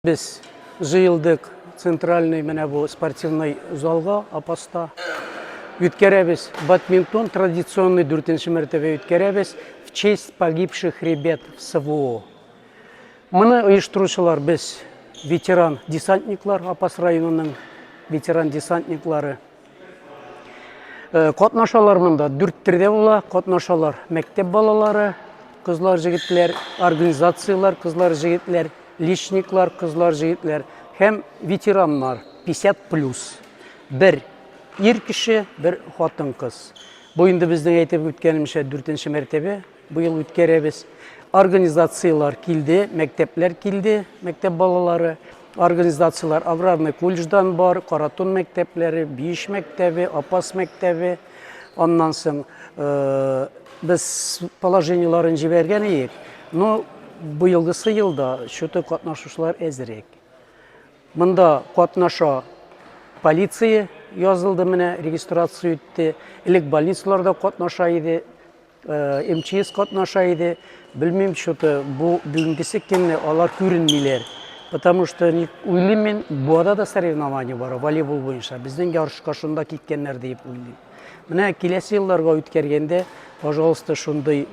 Без җыелдык центральный менә бу спортивный залга Апаста. Үткәрәбез бадминтон традиционный дүртенче мәртәбә үткәрәбез в честь погибших ребят в СВО. Моны оештыручылар без ветеран десантниклар, Апас районының ветеран десантниклары. Э, катнашалар монда дүрт төрдә була катнашалар мәктәп балалары кызлар җегетләр организацияләр кызлар җегетләр личниклар кызлар җегетләр һәм ветераннар 50 плюс бер ир кеше бер хатын кыз бу инде безнең әйтеп үткәнемчә дүртенче мәртәбә Быел үткәрәбез. Организацияләр килде, мәктәпләр килде, мәктәп балалары. Организацияләр аграрный колледждан бар, Каратун мәктәпләре, Биш мәктәбе, Апас мәктәбе. Аннан соң э, без положениеларын җибәргән идек, но быелгысы елда счеты катнашучылар әзерәк. Монда катнаша полиция язылды менә, регистрация үтте. Элек больницаларда катнаша иде, Э, МЧС катнаша иде. Белмим, что-то бу бүгенгесе көнне алар күренмиләр. Потому что ник уйлыйм мин, буада да соревнование бар, волейбол буенча. Безнең ярышка шунда киткәннәр дип уйлыйм. Менә киләсе елларга үткәргәндә, пожалуйста, шундый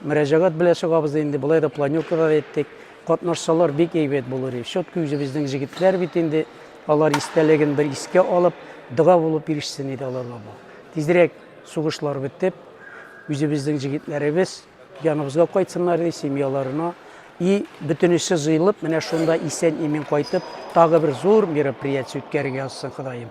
мөрәҗәгать белән чыгабыз инде. Болай да планёкада әйттек. Катнашсалар бик әйбәт булыр иде. Щетка үзебезнең җегетләр бит инде. Алар истәлеген бер искә алып, дога булып ирешсен иде аларга бу. Тизрәк Сугышлар бетеп, үзебезнең җегетләребез яныбызга кайтсыннар ди, семьяларына. И бөтенесе җыелып, менә шунда исән-имин кайтып, тагы бер зур мероприятие үткәрергә язсын Ходаем.